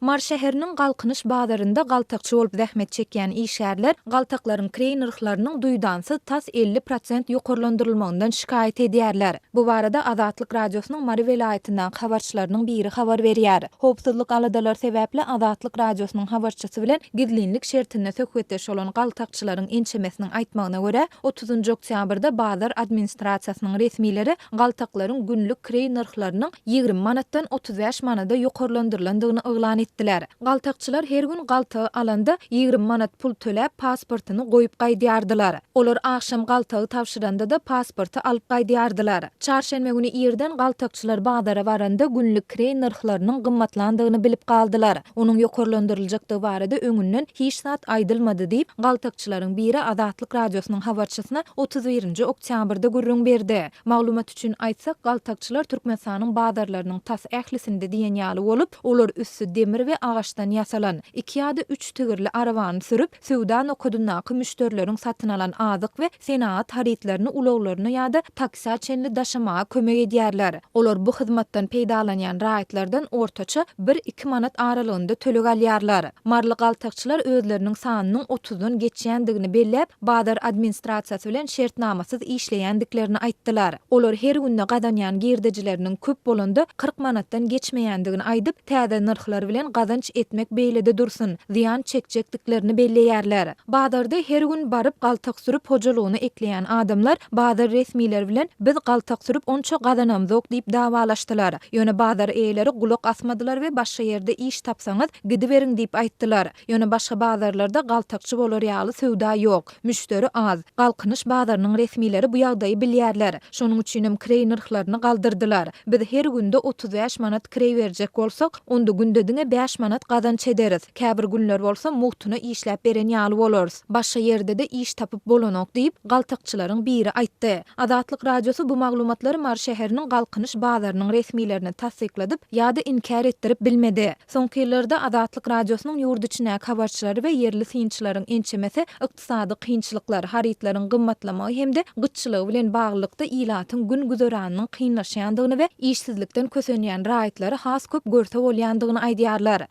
Mary şäheriniň Galkynyş bazarynda galtakçy bolup zähmet çekýän işgärler galtaklaryň kireý nyrhlarynyň duýdansyz tas elli prosent ýokarlandyrylmagyndan şikaýat edýärler. Bu barada Azatlyk Radiosynyň Mary welaýatyndaky habarçylarynyň biri habar berýär. Howpsuzlyk aladalary sebäpli Azatlyk Radiosynyň habarçysy bilen gizlinlik şertinde söhbetdeş bolan galtakçylaryň ençemesiniň aýtmagyna görä, otuzynjy oktýabrda bazar administrasiýasynyň resmileri galtaklaryň günlük kireý nyrhlarynyň ýigrimi manatdan otuz bäş manada ýokarlandyrylandygyny yglan etdiler. Galtakçylar her gün galtagy alanda, ýigrimi manat pul töläp, pasportyny goýup gaýdýardylar. Olar agşam galtagy tabşyranda-da pasporty alyp gaýdýardylar. Çarşenbe güni irden galtakçylar bazara baranda, günlük kireý nyrhlarynyň gymmatlandygyny bilip galdylar. Onuň ýokarlandyryljakdygy barada öňünden hiç zat aýdylmady diýip, galtakçylaryň biri Azatlyk Radiosynyň habarçysyna otuz birinji oktýabrda gürrüň berdi. Maglumat. Çyn aýtsak, galtakçylar Türkmenistanyň bazarlarynyň tas ählisinde diýen ýaly bolup, olar üsti demir we agaçdan ýasalan, iki ýa-da üç tigirli arabany sürüp, söwda nokadyndaky müşderileriň satyn alan azyk we senagat harytlaryny ulaglaryna ýa-da taksä çenli daşamaga kömek edýärler. Olar bu hyzmatdan peýdalanýan raýatlardan ortaça bir-iki manat aralygynda töleg alýarlar. Maryly galtakçylar özleriniň sanynyň otuzdan geçýändigini belläp, bazar administrasiýasy bilen şertnamasyz işleýändiklerini aýtdylar. Olar her günde gazanýan girdejileriniň köp bolanda kyrk manatdan geçmeýändigini aýdyp, täze nyrhlar bilen gazanç etmek beýlede dursun, zyýan çekjekdiklerini belleýärler. Bazarda her gün baryp galtak sürüp hojalygyna ekleýän adamlar bazar resmileri bilen Biz galtak sürüp onça gazanamzok diýip dawalaşdylar. Ýöne bazar eýeleri gulak asmadylar we başga ýerde iş tapsaňyz, Gidiberiň diýip aýtdylar. Ýöne başga bazarlarda galtakçy bolar ýaly söwda ýok. Müşderi az. Galkynyş bazarynyň resmileri bu ýagdaýy bilýärler. Şonuň üçinem kireý nyrhlaryny galdyrdylar. Biz her günde otuz bäş manat kireý berjek bolsak, onda günde diňe bäş manat gazanç ederis. Käbir günler bolsa mugtuna işläp beren ýaly bolarys. Başga ýerde-de iş tapyp bolanok diýip, galtakçylaryň biri aýtdy. Azatlyk Radiosy bu maglumatlary Mary şäheriniň Galkynyş bazarynyň resmilerine tassykladyp ýa-da inkär etdirip bilmedi. Soňky ýyllarda Azatlyk Radiosynyň ýurt içindäki habarçylary we ýerli synçylaryň ençemesi ykdysady kynçylyklar, harytlaryň gymmatlamagy hem-de gytçylygy bilen baglylykda ilatyň gün-güzeranynyň kynlaşýandygyny we işsizlikden kösenýän raýatlary has köp görse bolýandygyny aýdýarlar.